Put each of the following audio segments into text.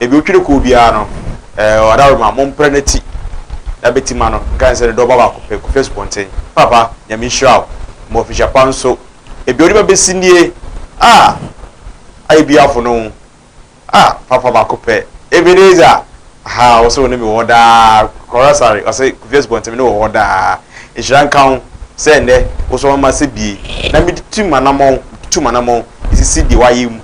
Ebi otwiri koo biara no, ɛɛ ɔdaworoma, mompra n'ati na beti ma no, nka ne sɛ ne dɔba baako pɛ, Kofi Asupɔnten. Papa, Nyame nhyira wo, ma ofihyɛ pa nso. Ebi onipa besi nie, ah, ayɛ bi afono wo, ah, papa baako pɛ, Ebenezer, aha, wo se wo ne me wɔ hɔ daa, Kɔra Sare, ɔse, Kofi Asupɔnten, me ne wɔ hɔ daa. Nhyira nka wo, sɛ nnɛ, wo so ama m'asɛ bie, na metutu m'anamɔn, metutu m'anamɔn, esisi deɛ wayɛ mu.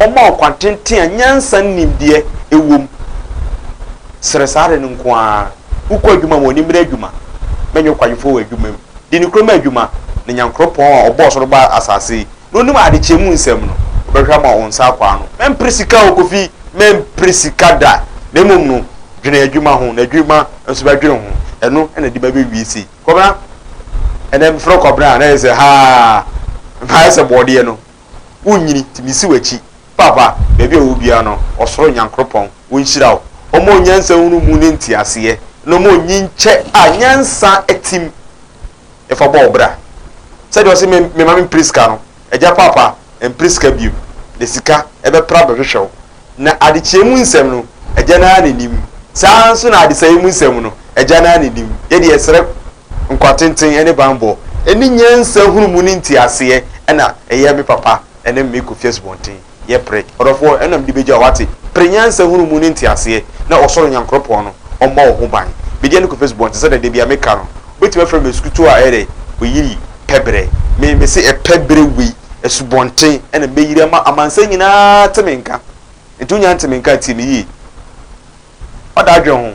Ɔma ɔkwan tenten a nyansa ne nimdeɛ wom. Srɛ saa ade no nko ara. Wokɔ adwuma mu a, ɔnim bere adwuma ma ɛnyɛ ɔkwagyefo wɔ adwuma mu. Di ne kurom adwuma ne Nyankoropɔn a ɔbɔɔ ɔsoro baa asase yi na onim adekyee mu nsɛm no, ɔbɛhwɛ ama wo nsa akɔ ano. Mempere sika o, Kofi, mempere sika da, na mmom no, dwene adwuma ho, na adwuma nso bɛdwene ho. Ɛno na ɛde bɛbɛwie sei. Kɔbena, ɛnnɛ mefrɛ wo Kɔbena a, na ɛyɛ sɛ haa, mayɛ sɛ bɔɔdeɛ no. wonnyini ti misi wakyi papa baabi a ɔwɔ biara no ɔsoro nyankoropɔn ɔnhyira wo ɔma onyansa hunu mu ne nteaseɛ na ɔma onyin kyɛ a nyansa atim ɛfa bɔ ɔbra sɛdeɛ ɔse me me mame prisca no agya papa mpriska biom na sika ɛbɛpra bɛhwehwɛ wo na adekyeɛ mu nsɛm no agya no ara na nim saa nso na adesaeɛ mu nsɛm no agya no ara na nim yɛde yɛsrɛ nkwatenten ne banbɔ ne nyansa hunu mu ne nteaseɛ ɛna ɛyɛ me papa ne me Kofi Asubɔnten yɛ pere ɔdɔfoɔ ɛna mede bɛgya wo wate pere nyansa hunu mu ne nteaseɛ na ɔsoro Nyankoropɔn no ɔmmɔ wo ho ban mede ne Kofi Asubɔnten sɛdeɛ da bia meka no wobɛtumi afrɛ me Asukutuo a ɛyɛ dɛ ɔyiri pɛ berɛ me mese ɛpɛ berɛ wei Asubɔnten ɛna mɛyiri ama amansan nyinaa te me nka nti wonya nte me nka tie me yie ɔda adwene ho.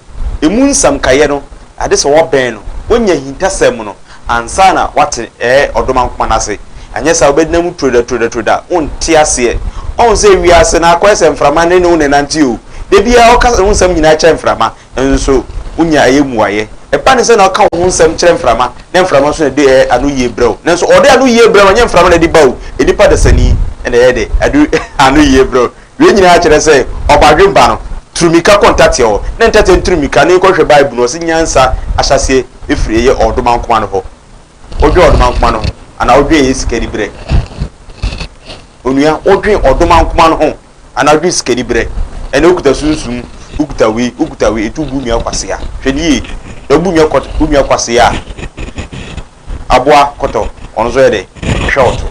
Emu nsɛm kaeɛ no, ade sɛ wɔbɛn no, wɔnya ahintasɛm mu no, ansa na wɔate ɛɛ ɔdomankoma no ase. Anyɛ saa a, wobɛgyina mu turo da, turo da, turo da, wonte aseɛ. Ɔhu sɛ wiase no akɔyɛ sɛ mframa ne ne wo na ɛnante o. Da biara ɔka ne ho nsɛm nyinaa kyerɛ mframa, nso wonya ɛyɛ mmuaeɛ. Ɛba ne sɛ na ɔka wo ho nsɛm kyerɛ mframa, na mframa nso na ɛde ɛɛ anoyie brɛ wo. Nanso ɔde anoyie brɛ wo, ɛnyɛ mframa na ɛde ba o, nnipa dasani na ɛyɛ dɛ, ɛde anoyie brɛ wo. Wei nyinaa kyerɛ sɛ ɔbadwemma no turumika kɔ ntɛteɛ hɔ, na ntɛteɛ no turumika no kɔ hwɛ Bible no. Wɔse nyansa ahyɛaseɛ firi yɛ ɔdomankoma no hɔ. Wodwen ɔdomankoma no ho anaa wodwen yɛ sikaniberɛ? Onua, wodwen ɔdomankoma no ho anaa wodwen sikaniberɛ? Ɛnna wokuta sunsum, wokuta wei, wokuta wei, nti wobu nua kwasea. Hwɛ no yie, na wobu nua kwasea a, aboa kɔtɔ ɔno nso yɛ dɛ hwɛ ɔto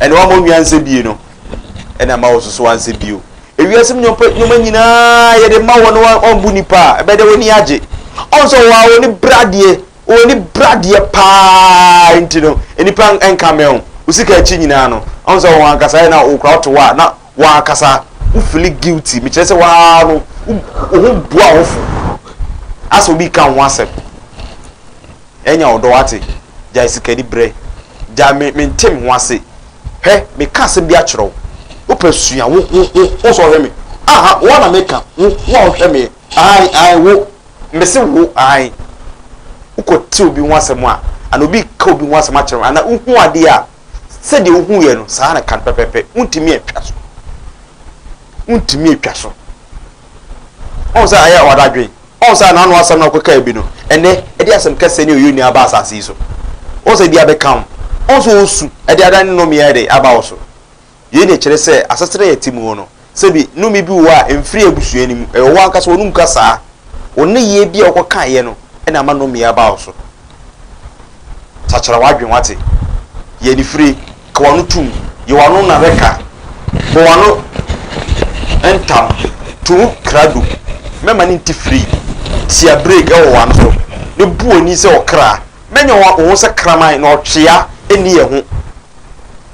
ɛne wama onwia nsɛ bie no ɛna ama ɔsoso ansɛ bio ewiase mu nneɛma nyinaa yɛde ma wɔn na wɔbu nipa a ɛbɛyɛ dɛ wɔn ani agye ɔn sɛ wɔn a wɔn ani bradeɛ wɔn ani bradeɛ paa nti no nipa nka mɛn o osika akyi nyinaa no ɔn sɛ wɔn ankasa yɛ na okura ɔto hɔ a na W'ankasa wo fili guilty mekyerɛ sɛ waa no wo ho bu awofo asɛ obi ka ho asɛm ɛnya ɔdɔ wate gyae sikani brɛ gyae me mente me ho ase hwɛ meka asɛm bi akyerɛ wo wopɛ sua wo wo wo wo sɛ ɔhwɛ me aha wo na meka wo wo a ɔhwɛ me ae ae wo mese wo ae wokɔ te obi ho asɛm a ana obi ka obi ho asɛm akyerɛ wo ana wohu adeɛ a Sɛdeɛ wohuuɛ no, saa ara na ɛka no pɛpɛɛpɛ. Wontumi antwa so. Wontumi antwa so. Ɔhu sɛ ayɛ wɔn adwene. Ɔhu sɛ n'ano asɛm na ɔkɔkaa bi no, ɛnɛ ɛde asɛm kɛseɛ ne ɔyɛ ni aba asase yi so. Ɔhu sɛ ebi abɛka wo. Ɔhu sɛ ɔresu de adane ne nnɔmeɛ ayɛ dɛ aba wo so. Yei na ɛkyerɛ sɛ asetena a yɛte mu hɔ no, sɛbi nnome bi wɔ hɔ a ɛmfiri abusua no mu. Ɛyɛ wo ankasa w'anom kasaa, wo nneyɛɛ bi a wokɔkaeɛ no na ama nnome yi aba wo so. Sakyera w'adwene, woate? Yɛ anifire, ka w'ano tom, yɛ w'ano nnareka, bɔ w'ano ntam, to mu krado, mɛma no nte firi, tia brake wɔ w'ano so, na bu w'ani sɛ ɔkra. Mɛnyɛ wo ho sɛ kraman, na ɔtwea nni yɛn ho.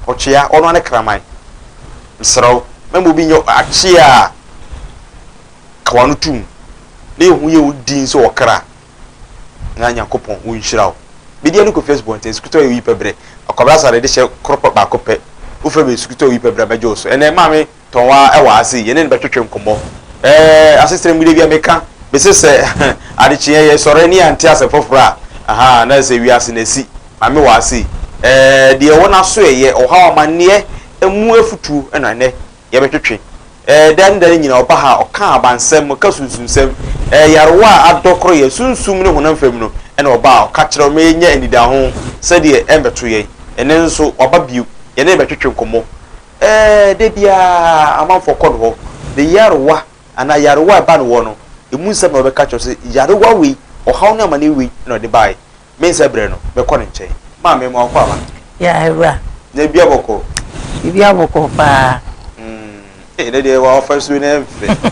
Ɔtwea, ɔno ara ne kraman. Mesrɛ wo, mɛma obi nyɛ akyea a ka w'ano tom na yɛhu yɛn wo din sɛ ɔkra na Nyankopɔn ɔnhyira wo. Medeɛ ne Kofi Asubɔnten, Sukutɔ yɛ oyi pɛ berɛ, Akwabrasade de hyɛ koro pɛ baako pɛ, wofrɛ me Sukutɔ oyi pɛ berɛ a mɛgye wo so. Ɛnɛ Maame tɔn ara wɔ ha sei, yɛne no bɛtwetwe nkɔmmɔ. Ɛɛ, asetra mu da bi a meka, mese sɛ adekyeeɛ yɛsɔre ne yɛante asɛm foforɔ a, aha, na ɛsɛ sɛ wiase no asi. Maame wɔ ha sei. Ɛɛ, deɛ ɛwɔ n'asoɛeɛ, ɔhaw, amanneɛ, ɛmu afutuo na nnɛ yɛbɛtwetwe. Ɛɛ, da ne da no nyinaa ɔba ha, ɔka abansɛm, ɔka sunsunsɛm. Ɛɛ, yarewa a adɔ korɔ yɛn sunsum ne honam fam no na ɔba a ɔka kyerɛ ma yɛnya anidaho sɛdeɛ ɛmmɛto yɛn. Ɛnnɛ nso, waba bio, yɛne no bɛtwetwe nkɔmmɔ. Ɛɛ, da biara amanfoɔ kɔ no hɔ. Ne nyarewa anaa nyarewa a ɛba ne hɔ no, ɛmu nsɛm na wɔbɛka akyerɛ wo sɛ, nyarewa wei, ɔhaw ne amaneɛ wei na ɔde baeɛ. Mensa berɛ no, mɛkɔ ne nkyɛn. Maame, ma wɔkɔ aba. Yea, awura. Na ebi abɔ kɔɔ? Ebi abɔ kɔɔ paa. Mm, eh, ɛnɛ deɛ w'afasuo no yɛ fɛ.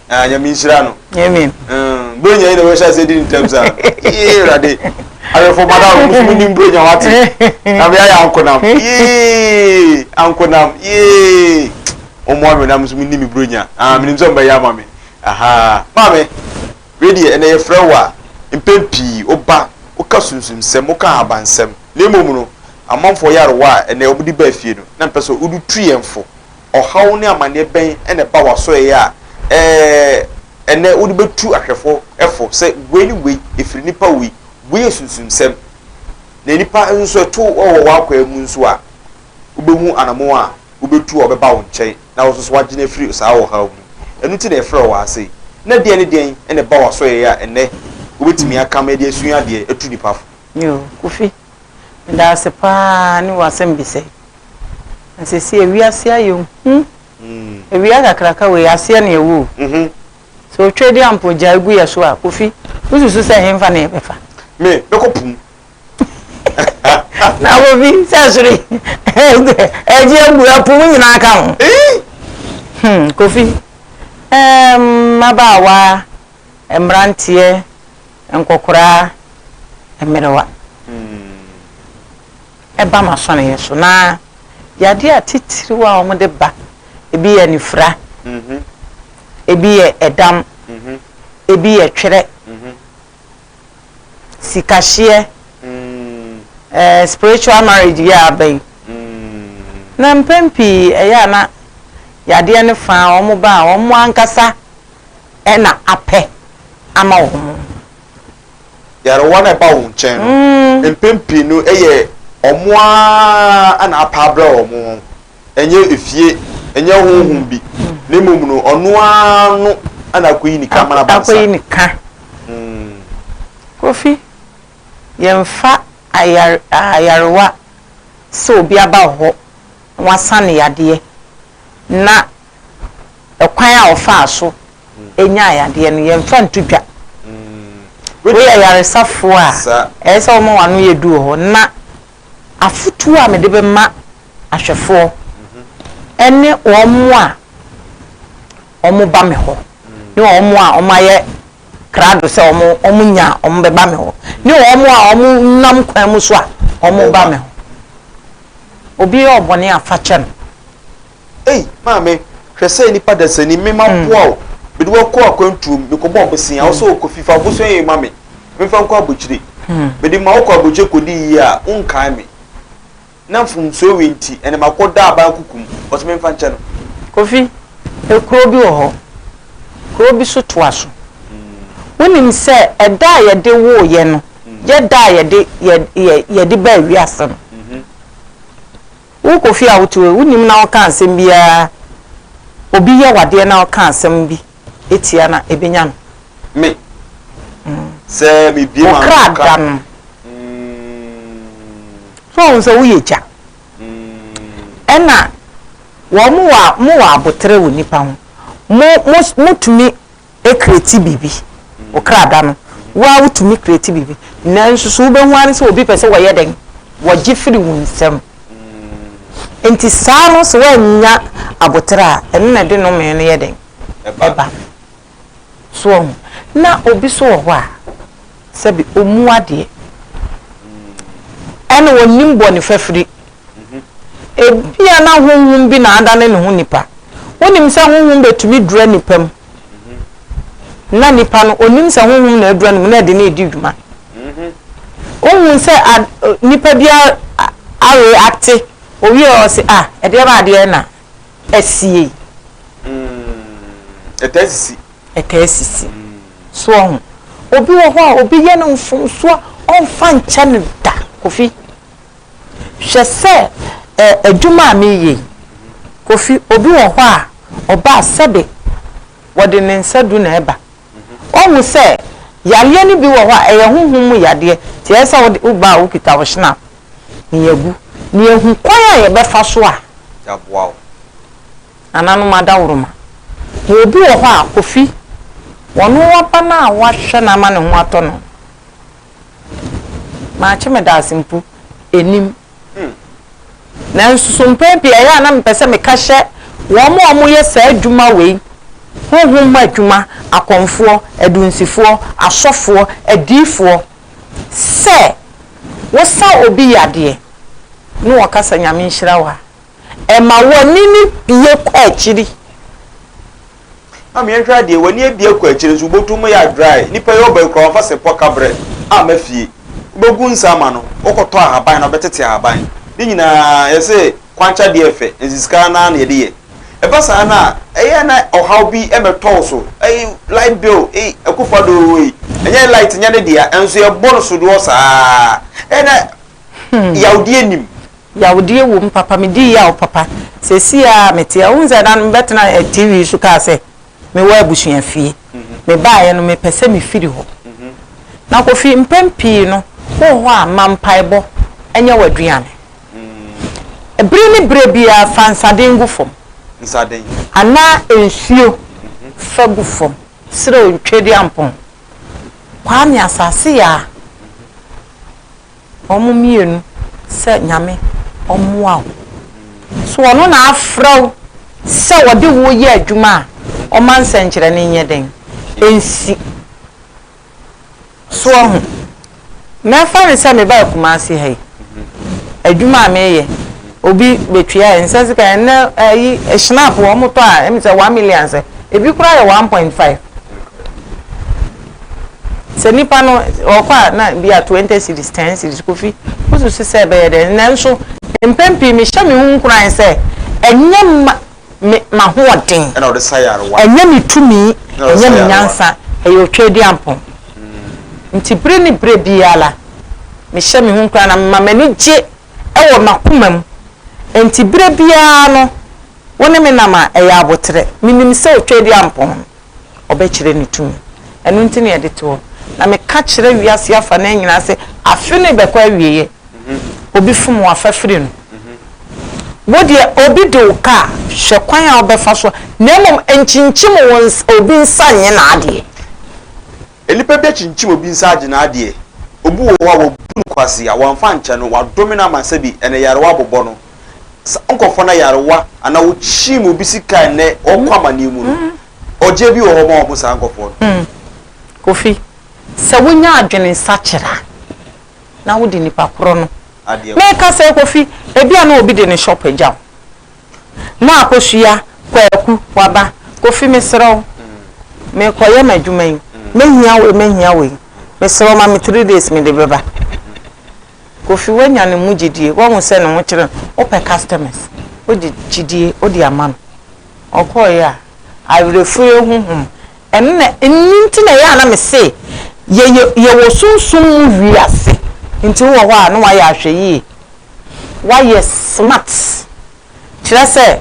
ah, nyame nhyira no amen mm, bro nya yi na wɔhyɛ ase di ntɛm saa yee awurade awɛfo mada wo musu mu nim bro nya wate na me ayɛ ankonam yee ankonam yee ɔmmoa me na musu mu nim bro nya ah menim sɛ ɔmbɛyɛ ama me aha maame wei deɛ ɛnɛ yɛfrɛ wo a mpɛn pii woba woka sunsumsɛm woka ahabansɛm na mmom no amanfoɔ yɛ arewa a ɛnɛ wɔde ba afie no na mpɛ sɛ wodu tu yɛn fo ɔhaw ne amanneɛ bɛn na ɛba w'asoɛe a ɛnnɛ wode betu ahwɛfo fo sɛ wei ne wei, efiri nnipa wei, wei yɛ sunsumsɛm? Na nnipa nso ɛto wɔ w'akwaa mu nso a, wubehu anammɔn a wubetu a wɔbɛba wo nkyɛn na wo nso so woagye no afiri saa ɔhaw mu. Ɛno nti na yɛfrɛ wo wɔ ase. Ná deɛn ne deɛn na ɛba w'asoɛe a ɛnnɛ wubetumi akam de asua adeɛ atu nnipa fo? Yoo, Kofi, Meda wo ase paa ne w'asɛmbisa yi. Na seesei wiase ayɛ hu. Awia kakraka wei, aseɛ na ɛwɔ o. Sɛ otwa di a mpo gyae gu yɛ so a, Kofi, wosusu sɛ henfa na yɛbɛfa? Me, mɛkɔ po mu. Na Kofi, sɛ soro yi ɛregye abu a, po mu nyinaa ka ho. Hmm, Kofi, ɛɛm, mmabaawa, mmeranteɛ. Nkɔkoraa mmerewa ba m'asɔneeɛ so, na yadeɛ atitiriw a wɔde ba, ebi yɛ anifira, ebi yɛ ɛdam, ebi yɛ twerɛ, sikahyeɛ, ɛɛ spiritual marriage yi a aba yi. Na mpɛn pii ɛyɛ a na yadeɛ no fa a wɔba a wɔn ankasa na apɛ ama wɔn. Nyarewa no a ɛba wɔn nkyɛn no, mpɛn pii no ɛyɛ wɔn ara na apɛ abrɛ wɔn ho. Ɛnyɛ efie, ɛnyɛ honhom bi, na mmom no ɔno ara no na akoyi ne ka ama no aba ne nsa. Akoyi ne ka. Kofi, yɛmfa ayarewa sɛ obi aba wo hɔ na wasan ne yadeɛ na. kwan a ɔfaa so nyaa yadeɛ no, yɛmfa nto dwa. Woyɛ yaresafoɔ a, ɛyɛ sɛ woma w'ano yɛ duru hɔ. Na afotuo a mede bɛma ahwɛfoɔ ne wɔn a wɔba me hɔ ne wɔn a wɔayɛ krado sɛ wɔnya a wɔbɛba me hɔ ne wɔn a wɔnam kwan mu so a wɔba me hɔ. Obi yɛ ɔbɔne a, fa kyɛ no. Ei, maame, hwɛ sɛ nnipa dasani, me maboa wo, mede wo akɔ akwantuo mu, mekɔbɔɔ bosea, wo sɛ ɔkɔ fi, fa bosea yei ma me, memfa nkɔ abokyire. Mede ma wokɔ abokyire kɔdi yie a, wonkae me. Na mfomsoɔ wei nti, ɛnna makɔda aban kuku mu. Ɔse memfa nkyɛ no. Kofi, kuro bi wɔ hɔ, kuro bi so toa so. Wonim sɛ ɛda a yɛde woo yɛn no yɛ da a yɛde baa wiase no? Wo Kofi a wote hɔ yi, wonnim na woka asɛm biara, obi yɛ wo adeɛ na woka asɛm bi tia no a, ɛbɛnya no? Me, sɛ mebue m'ano kakra. Wo kra da no. So wohu sɛ woyɛ gya? Ɛna wɔn, mowɔ aboterɛ wɔ nnipa ho. Mo, mo, motumi kreti biribi, wo kra da no, wo ara wotumi kreti biribi. Nanso so wobɛhu ara sɛ obi pɛ sɛ wɔyɛ dɛn? Wɔgye firi wo nsam. Nti saa no sɛ woannya aboterɛ a, ɛno na ɛde nomee no yɛ dɛn? Ɛba. So wahu? Na obi so wɔ hɔ a, sɛbe ɔmmu adeɛ, ɛna ɔnnim bɔne fafiri. Ebia na honhom bi na adane ne ho nipa. Wonim sɛ honhom betumi dura nnipa mu, na nipa no, onnim sɛ honhom na adura ne mu na ɛde no redi dwuma. Wohu sɛ nipa bi areacte, owie a ɔse, ah, ɛdeɛ ba adeɛ na asie yi. Ɛtaa sisi. Ɛtaa sisi. So ɔho. Obi wɔ hɔ a obi yɛ no mfomsoɔ ɔmfa nkyɛ no da, Kofi. Hwɛ sɛ ɛ adwuma a mereyɛ yi, Kofi, obi wɔ hɔ a ɔba a sɛbe wɔde ne nsa du na ɛba. Woahu sɛ yareɛ no bi wɔ hɔ a ɛyɛ honhom mu yadeɛ nti ɛyɛ sɛ wode woba a wokita wo hynapp na yɛagu na yɛahu kwan a yɛbɛfa so a yɛaboa wo. Nananom adaworoma. Na obi wɔ hɔ a, Kofi, wɔno waba no a woahwɛ no ama ne ho atɔ no. Makye me daase mpo ɛnim. Nanso so mpɛn pii ɛyɛ a na mepɛ sɛ meka hyɛ wɔn a wɔyɛ saa adwuma wei, honhom mu adwuma, akɔmfoɔ, adunsifoɔ, asɔfoɔ, adiyifoɔ, sɛ wosa obi yadeɛ na ɔka sɛ Nyame nhyira wo a, Ɛma w'ani no bue kɔ akyiri. Maame yɛnhwɛ adeɛ w'ani abue kɔ akyire nso wobɔtom mu yɛ dry nipa yi ɔba yi koraa ɔmfa sepɔ ka brɛ amma fie wobɛgu nsa ama no wokɔtɔ ahaban na wobɛtete ahaban ne nyinaa yɛse kwankya deɛ fɛ nti sika no ara na yɛde yɛ ɛba saa no a ɛyɛ na ɔhaw bi mmɛtɔ wo so ei light bill ei Akuffo Addo ei ɛnyɛ light nyɛ ne dea nso yɛbɔ no sodoɔ saa ɛyɛ na yawdeɛ nim Yawdeɛ wom papa medii yaw papa seesei a mete a wohu sɛ na mebɛtena TV so kaa sɛ mewɔ abusua fie mebaeɛ no mepɛ sɛ mefiri hɔ na Kofi mpɛn pii no wowɔ hɔ a ma mpaebɔ nyɛ w'aduane bere ne berɛ biara fa nsaden gu fam anaa nsuo fa gu fam serɛ Tweduampɔn Kwame Asase Yaa. Wɔn mmienu sɛ Nyame ɔmmoa wo. So ɔno na afrɛ wo sɛ ɔde wo yɛ adwuma a ɔma nsɛnkyerɛnne nyɛ dɛn? Ɛnsi. So wahu? Mɛfa no sɛ mebaa Kumasi ha yi, adwuma a meyɛ, obi bɛtua, ɛnsɛ sika, ɛnnɛ ayi, Schnapp wɔmotɔ a, ɛm sɛ one million sɛ, ɛbi koraa yɛ one point five. Sɛ nipa no ɔkɔ a na bi a twenty cedis, ten cedis, Kofi wo susu sɛ ɛbɛyɛ dɛn? Nanso mpɛn pii me hyɛ me ho nkuran sɛ ɛnyɛ ma me m'ahoɔden, ɛnyɛ me tumi, ɛnyɛ me nyansa, ɛyɛ Otweaduampɔn nti bere ne bere biara me hyɛ me ho nkuran na me ma m'ani gye wɔ m'akoma mu nti bere biara no wo ne me nam a ɛyɛ aboterɛ, me nim sɛ Otweaduampɔn. ɔbɛkyerɛ ne tumi. Ɛno nti na yɛde to hɔ. Na meka kyerɛ wiase afanan nyinaa sɛ, afe no rebɛkɔ awieɛ. Obi fom wo a, fa firi no. Wo deɛ, obi de wo ka a, hwɛ kwan a wobɛfa so a, na mmom nkyinkyim obi nsa nyɛ n'adeɛ. Nnipa bi akyinkyim obi nsa agye n'adeɛ. Obi wɔ hɔ a, wabu no kwasea, wamfa ankyɛ no, wadome no ama sɛbi ɛnɛ yarewa abobɔ no. saa nkorɔfoɔ no ayarewa anaa wɔkyiim obi sika ɛnnɛ ɔɔkɔ amaneɛ mu no, ɔgyeɛ bi wɔ hɔ ma wɔn saa nkorɔfoɔ no? Hmm. Kofi, sɛ wonya adwene sakyera na wode nipa korɔ no, Adeɛ korɔ. meka sɛ Kofi, ebia na obi de ne shop agya wo, na Akosua, Kwaku, waba, Kofi mesrɛ wo, mekɔyɛ m'adwuma yi, mɛhia wei, mɛhia wei, mesrɛ wo ma me three days mede bɛba. Kofi wanya ne mu gyidie wahu sɛ ne ho kyere no wopɛ customers wode gyidie wode ama no ɔkɔeɛ a awerɛfirie honhom ɛno na ɛno nti na ɛyɛ a na me se yɛyɛ yɛwɔ sunsum mu wiase nti wowɔ hɔ a na wayɛ ahwɛ yie wayɛ smart kyerɛ sɛ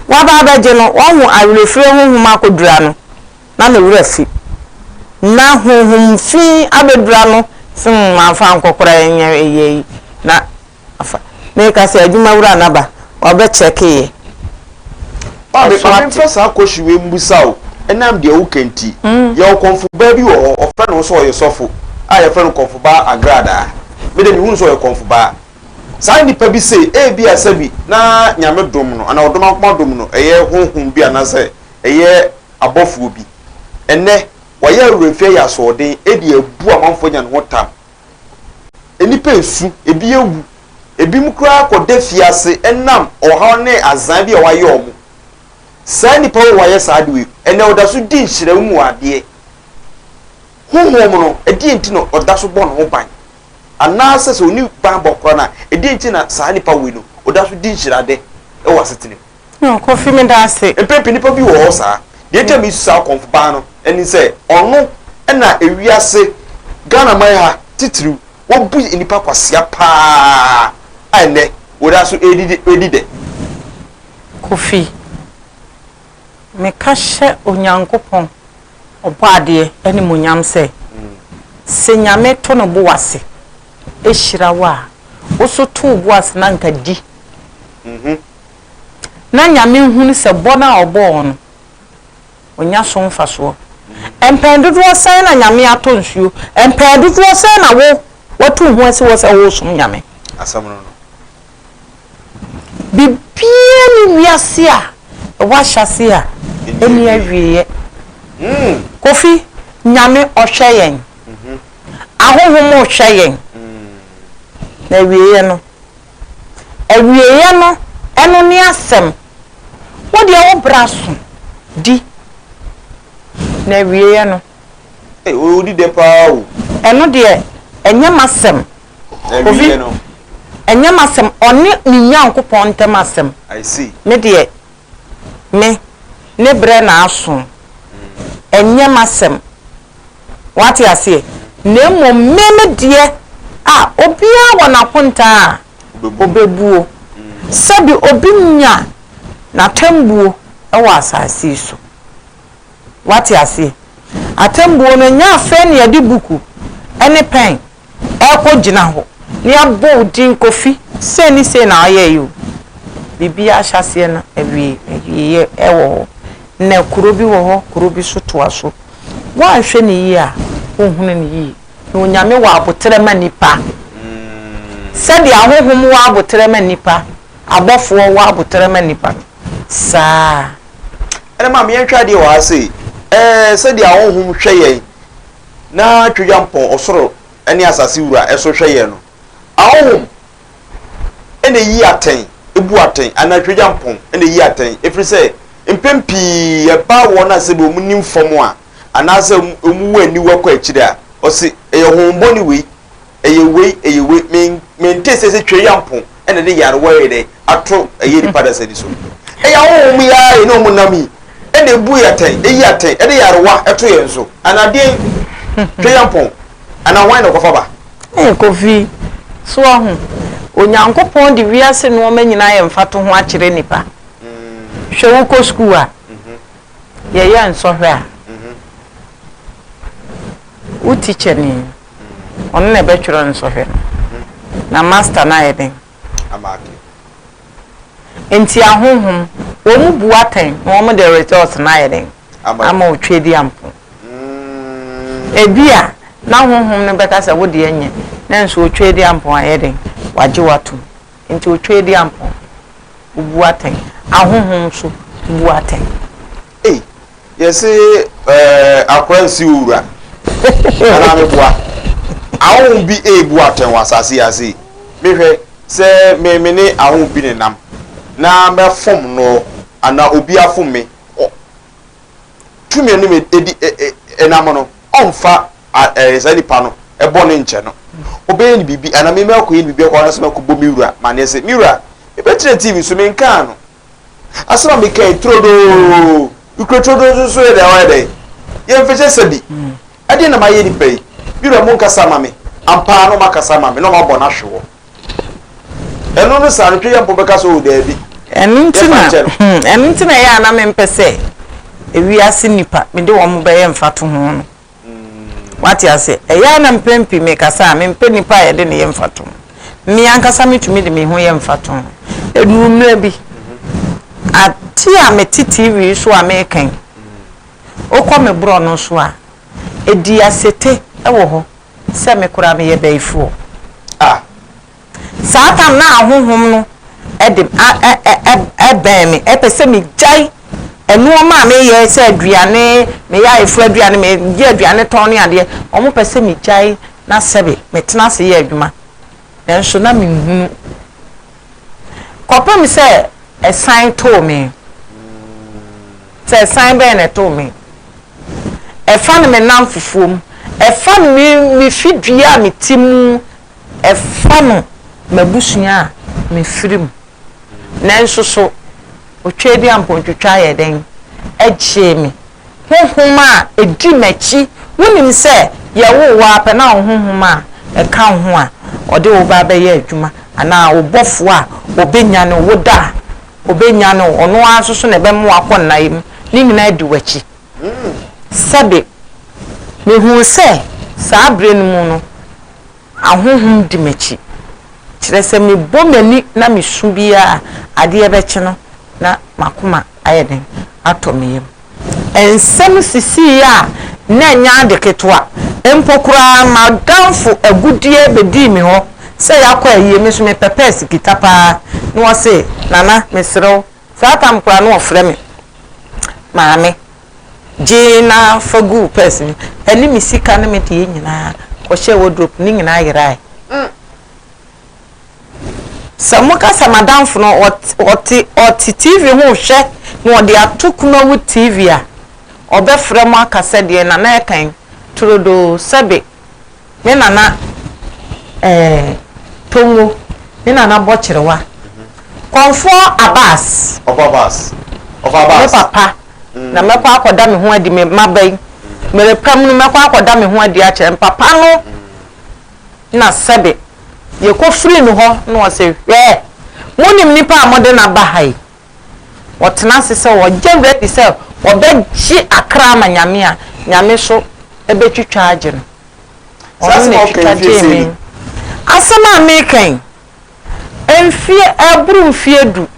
waba abɛgye no wahu awerɛfirie honhom akɔdura no. na ne werɛ afi. Ná honhom fi abɛdura no sen mamfa nkɔkora ɛnyɛ ɛyɛ yi na afa. Meka sɛ adwuma wura na ba, ɔbɛ kyɛke yɛ. Ba me ma memfa saa kɔhye wei mmusa wo ɛnam deɛ woka nti. Yɛwɔ kɔmfo baa bi wɔ hɔ, wɔfrɛ ne ho sɛ ɔyɛ sɔfo a yɛfrɛ no kɔmfo baa Agradaa. Me deɛ mehu no sɛ ɔyɛ kɔmfo baa. Saa nnipa bi se ebia sɛbi na Nyame dom no anaa ɔdom ankoma dom no ɛyɛ honhom bi anaasɛ ɛyɛ abɔfoɔ bi. Ɛnnɛ, wɔayɛ awerɛmfie ayɛ asoɔden de abu amanfoɔ anya ne ho tam. Nnipa resu, ebi awu, ebinom koraa kɔda afiase ɛnam ɔhaw ne azan bi a wɔayɛ wɔn. Saa nnipa wei a wɔayɛ saa ade wei, ɛnnɛ ɔda so di nhyira mu adeɛ. Honhom no, ɛdeɛn nti na ɔda so bɔ ne ho ban? Anaasɛ sɛ ɔnni banbɔ koraa no a, ɛdeɛn nti na saa nnipa wei no, ɔda so di nhyira ade wɔ asetena mu? Yoo Kofi me da ase. Mpɛn pii nnipa bi wɔ hɔ saa. Deɛ ɛnti a mesu saa Okomfo paa no ɛne sɛ ɔno na ewiase, Ghana man ha titiriw, wabu nnipa kwasea paa a ɛnnɛ wɔda so redi dɛ. Kofi, meka hyɛ Onyankopɔn Ɔbɔadeɛ animuonyam sɛ, sɛ Nyame to ne bo ase hyira wo a, wo nso to wo bo ase na anka di. na Nyame nhunu sɛ bɔ no a ɔbɔɔ no, ɔnya so mfasoɔ. Mpɛn dodoɔ sɛn na Nyame atɔ nsuo? Mpɛn dodoɔ sɛn na wo watu wo ho asi hɔ sɛ woresom Nyame? Asɛm no no. Biribiara ni wiase a ɛwɔ ahyɛaseɛ a ɛnni awieɛ. Kofi, Nyame ɔhwɛ yɛn, ahonhom rehwɛ yɛn, na awieɛ no, Awieeɛ no, ɛno ne asɛm. Wo deɛ wo bra so di na awieeɛ no. Ei o odi dɛ paa o. Ɛno deɛ ɛnyɛ m'asɛm. Awieeɛ no. Ɛnyɛ m'asɛm, ɔne ne Nyankopɔn ntam asɛm. I see. Me deɛ me, ne berɛ na aso, ɛnyɛ m'asɛm, wate aseɛ, na mmom me me deɛ a obiara wɔ n'akontaa a ɔbɛbuo, sɛde obi nya n'atɛmbuo wɔ asase yi so, wate aseɛ, atɛmbuo no nyɛ asɛn na yɛde buku ne pɛn ɛkɔ gyina hɔ ne abɔ wo din kofi sei ne sei na ɔyɛɛ yi o biribi ahyɛaseɛ no awieɛ ɛwɔ hɔ na kuro bi wɔ hɔ kuro bi so toa so woanhwɛ no yie a wonhunu no yie na onyame wɔ aboterɛ ma nnipa sɛdeɛ ahohom wɔ aboterɛ ma nnipa abɔfoɔ wɔ aboterɛ ma nnipa no saa ɛne ma meyɛnhwɛ adeɛ wɔ ha sei ɛɛ sɛdeɛ ahohom hwɛ yɛn na Tweampɔn Ɔsoro ne Asase Wura so hwɛ yɛn no, ahonhom na eyi atɛn, ebu atɛn, anaa Tweampɔn na eyi atɛn, ɛfiri sɛ mpɛn pii ɛba wɔn a sɛdeɛ wɔnim fam a, anaasɛ wɔwɔ aniwa kɔ akyire a, ɔse, ɛyɛ honhommɔne wei ɛyɛ wei ɛyɛ wei men mente sɛ sɛ twɛri ampo ɛna de yarewa yɛ dɛ ato ɛyɛ nipa dasani so ɛyɛ ahohom yi ara yɛ ne ɔmo nam yi ɛna ebu yɛ atɛn eyi atɛn ɛde yarewa ɛto yɛn so anadeɛn twɛri ampo ana hwan na ɛkɔfa ba. ɛɛ kofi so ɔho onyankopɔn de wiase nneɛma nyinaa yɛ mfatoho akyerɛ nipa hwɛ wokɔ sukuu a yɛyɛ nsɔhwɛ a wo tikya ni. Ɔno na ɛbɛtwerɛ nsɔhwɛ no. Na Master no ayɛ dɛn? Amake. Enti ahonhom, wɔn bu atɛn na wɔn de results no ayɛ dɛn? Ama wo Tweaduampɔn. Ebia na honhom no bɛka sɛ wo deɛ nyɛ, nanso Otweaduampɔn ayɛ dɛn? Wagye wo atom. Enti Otweaduampɔn, wobu atɛn. Ahonhom nso bu atɛn. Ei yɛse ɛɛ akora nsi wo wura anaa me boa ahom bi eebu atɛn wɔ asase yi ase yi mehwɛ sɛ me me ne ahom bi ne nam na mɛfom no anaa obi afom me ɔ tumi ne me edi ɛnam no ɔmfa ɛɛ saa nipa no ɛbɔ ne nkyɛ no ɔbɛyɛ ne biribi anaa me mɛkɔyɛ ne biribi akɔ anaa sɛ mɛkɔbɔ me wura ma ne se me wura mebɛkyerɛ tv so menkaa no Asɛm a meka yi turodoo, nokura turodoo nso so yɛ dɛ ɔyɛ dɛ. Yɛ mfehyɛ sɛ bi. Ɛdeɛ na mayɛ nipa yi. Me wura mo nkasa ma me. Ampaa na ɔmo akasa ama me na ɔmo abɔ no ahwe wɔ. Ɛno no saa no twɛ yɛ mpo bɛka sɛ o daabi. Ɛno nti na hmm ɛno nti na ɛyɛ a na mempɛ sɛ ewiase nipa mede wɔn bɛyɛ mfatoho no. Wate aseɛ? Ɛyɛ ara na mprɛn pii mekasa a, mempɛ nipa a yɛde no yɛ mfatoho. Me ankasa metumi de me ho yɛ mfatoho. Ɛduru mmerɛ bi, adeɛ a mete TV so a meka yi, wokɔ me borɔno so a, ɛdi asete wɔ hɔ sɛ me koraa meyɛ bayifoɔ. Ah! Saa tam no a honhom no de bɛn me, ɛpɛ sɛ megyae nnoɔma a meyɛ sɛ aduane, meyɛ ayeforo aduane, meyɛ aduane tɔn ne adeɛ. Wɔn pɛ sɛ megyae na sɛbe metena ase yɛ adwuma. Nanso na menhunu. Kɔpem sɛ ɛsan too me. Sɛ ɛsan bɛn na ɛtoo me. Ɛfa no me nnamfofoɔ mu. Ɛfa no me fidua a mete mu. Ɛfa no m'abusua a mefiri mu. Nanso so Otweaduampɔntwitwa yɛɛ dɛn gyee me? Honhom a ɛdi m'akyi, wonim sɛ yɛwoo wo ara pɛ na wo honhom a ɛka wo ho a ɔde wo ba bɛyɛ adwuma anaa wo bɔfoɔ a ɔbɛnyane wo, woda a ɔbɛnyane wo, ɔno ara nso so na ɛbɛma woakɔ nnaeɛ mu, ne nyinaa di w'akyi. Sɛbe, mehuu sɛ saa bere no mu no, ahonhom di m'akyi, kyerɛ sɛ mebɔ m'ani na misu biara a, adeɛ bɛkye no na m'akoma ayɛ dɛn? atɔ me yam. Nsɛm sisii a na ɛnyɛ ade ketewa mpo koraa, m'adamfo agudeɛ bɛdii me hɔ sɛ yɛakɔ ayie, me nso mepɛpɛɛ Sikita paa, na ɔse, Nana, mesrɛ wo, Saa tam koraa na ɔfrɛ me maame. Gye na fa gu wo pɛs mu. Ɛne me sika ne me deɛ nyinaa kɔhyɛɛ wardrobe ne nyinaa yeraeɛ. Sɛ moka sɛ m'adamfo no ɔte ɔte TV ho rehwɛ na ɔde ato kunawu TV a, ɔbɛfrɛ mo aka sɛ deɛn na na ɛkan, turodoo, sɛbe, Ne nana eh, Tongo, ne nana Bɔkyerewa, Kɔmfoɔ Abass. Ɔfa Abass, ɔfa Abass. Me papa, mm. na mɛkɔ akɔda me ho adi me mmaba yi. Merepam no mɛkɔ akɔda me ho adi akyerɛ mpapa no. Na sɛbe, yɛkɔ firi no hɔ na ɔse, hwɛ, monim nipa a mode no aba ha yi? wɔtena ase sɛ wɔgye werɛ adi sɛ wɔbɛgye akra ama Nyame a, Nyame so bɛtwitwa agye no. Ɔno na ɛtwitwa gyee me. Asɛm a meka yi, mfeɛ ɛreboro mfeɛ du,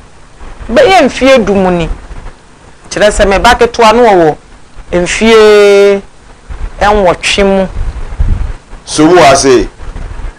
bɛyɛ mfeɛ du mu ni. Kyerɛ sɛ me ba ketewa no ɔwɔ mfeɛ nwɔtwe mu. So wo ase?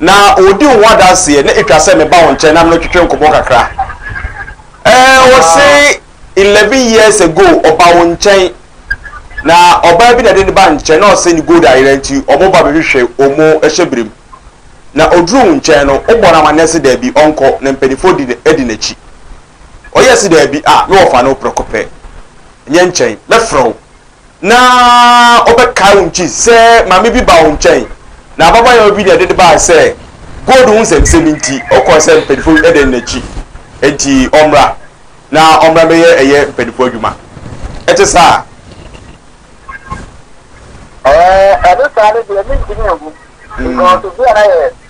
na ɔdi wo ho adanseɛ na ɛtwa sɛ meba wo nkyɛn na mene wo twetwe nkɔmmɔ kakra. Ɛɛ wɔse Wow. eleven years ago ɔba wo nkyɛn na ɔbaa bi na ɛde ne ba nkyɛn na ɔse ne gold ayera nti ɔmo ba bɛhwehwɛ ɔmo hyɛ berem na ɔduru wo nkyɛn no wobɔ no amanneɛ se daabi ɔnkɔ na mpanimfoɔ di ne adi n'akyi ɔyɛ se daabi a me wɔfa no prɛko pɛ nyɛ nkyɛn mɛfrɛ wo na ɔbɛkae wo nti sɛ maame bi ba wo nkyɛn na ababaayewa bi na ɛde no bae sɛ gold ho nsɛmnsɛm nti ɔkɔɔ sɛ mpanyinfo ɛdɛ no n'akyi nti ɔmmra na ɔmmra bɛyɛ ɛyɛ mpanyinfo adwuma ɛte saa. ɛɛ ɛne saa no deɛ mentumi nhu because obi a na yɛ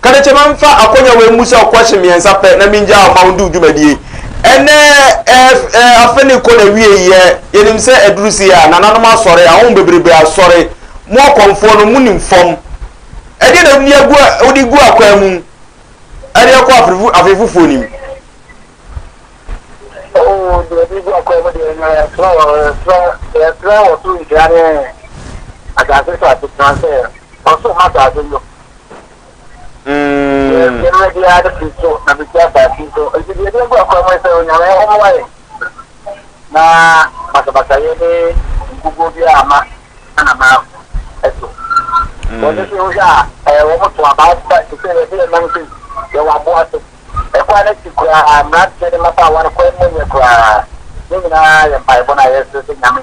Ka no kyɛ mɛmfa akonya wei mmu sɛ ɔkwɛhye mmiɛnsa pɛ na mengyaa wo ma wondu wo dwumadie yi. Ɛnnɛ ɛɛ ɛɛ afe no rekɔ n'awieeɛ, yɛnim sɛ aduru sei a, nananom asɔre, ahɔho bebrebe asɔre, mo akɔmfoɔ no monim fam. Ɛdeɛn na wode agu wode gu akwan mu ɛde rekɔ afe fo afe foforɔ no mu? Oo deɛ yɛde gu akwan mu deɛ ɛnyɛ ɛserɛ wɔ ɛserɛ deɛ ɛserɛ wɔ so nhyira ne asase so asetena sɛ ɔsoro ma asase yo Mm. Yɛn mmerɛ biara de firi so na bɛsi asase yi so. Nti deɛ ɛde agu akwan mu ne sɛ Onyame ɔmmoa yɛn na basabasayɛ ne nkuguo biara amma anama so. Wɔn nso mm. wohwɛ a eh, wɔn to aba aba te sɛ yɛde yɛn nam sei yɛwɔ aboa so. Ɛkwan no akyi koraa mmeranteɛ ne mmabaawa no kwan mu yɛ koraa. Ne nyinaa yɛ mpaebɔ no a yɛsrɛ sɛ Nyame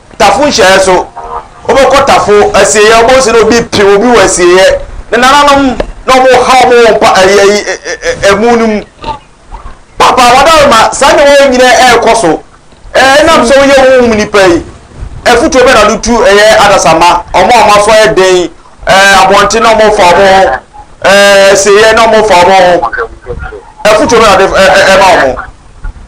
tafo nhyiaeɛ so wobɛkɔ tafo asieɛ wobɛhu sɛ na obi pim obi wɔ asieɛ ne nananom na ɔmo ha ɔmo wɔ mpa ɛyɛ ɛmu no mu papa wadare ma saa nneɛma yɛ nyina ɛrekɔ so ɛnam sɛ woyɛ wo mu nipa yi afutuo bɛ na do tu ɛyɛ adasama ɔmo a ɔmo aso ayɛ den abɔnten na ɔmo fa ɔmo asieɛ na ɔmo fa ɔmo afutuo bɛ na de ɛma ɔmo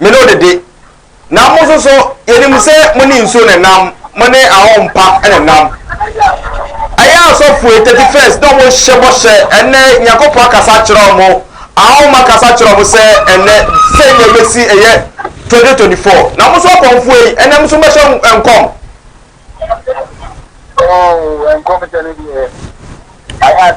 Me ne wo dede, na mo nso so yɛnim sɛ mo ne nsuo na ɛnam, mo ne ahɔho pa na ɛnam. Ɛyɛ asɔfoe thirty first na wɔn hyɛ bɔhyɛ ɛnɛ Nyankopɔn akasa akyerɛ wɔn, ahɔho akasa akyerɛ wɔn sɛ ɛnɛ sɛ nea ɛbɛsi ɛyɛ twenty twenty four na mo nso akɔmfoɔ yi ɛnɛ mo nso bɛhyɛ nkɔm. Oh, nkɔm hyɛ ne deɛ. I had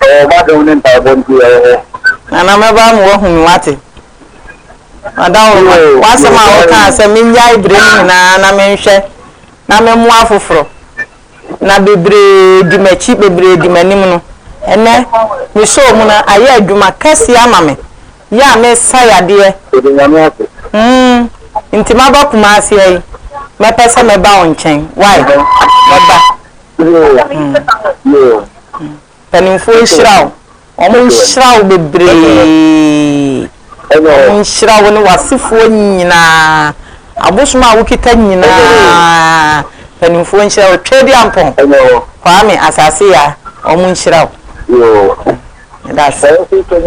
Ɛwɔ m'adom ne mpaebɔ nti yɛwɔ hɔ. Nana mɛba ama woahu me wate. Ɔdaworo w'asɛm a wokaa sɛ mennyae bere no nyinaa na menhwɛ na memmoa afoforo na bebree di m'akyi bebree di m'anim no ɛnnɛ mesɔɔ mu na ayɛ adwuma kɛseɛ ama me yɛ a mesa yadeɛ mm nti maba Kumasi ha yi mɛpɛ sɛ mɛba wo nkyɛn why mɛba. Mpanimfoɔ nhyira wo. Wɔn nhyira wo bebree. Wɔn nhyira wo ne w'asefoɔ nyinaa. Abosom a wokita nyinaa, mpanimfoɔ nhyira wo. Twɛdi ampɔn, Kwame asase ya, wɔn nhyira wo. That's it.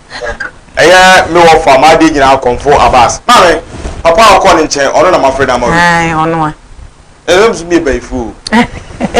Ɛyɛ me wɔfa m'adeɛ nyinaa kɔmfo Abass. Maame, papa a ɔkɔɔ ne nkyɛn, ɔno na mafrɛ no ama wo yi. Aane, ɔno a. Ɛnam so meyɛ bayifuo o.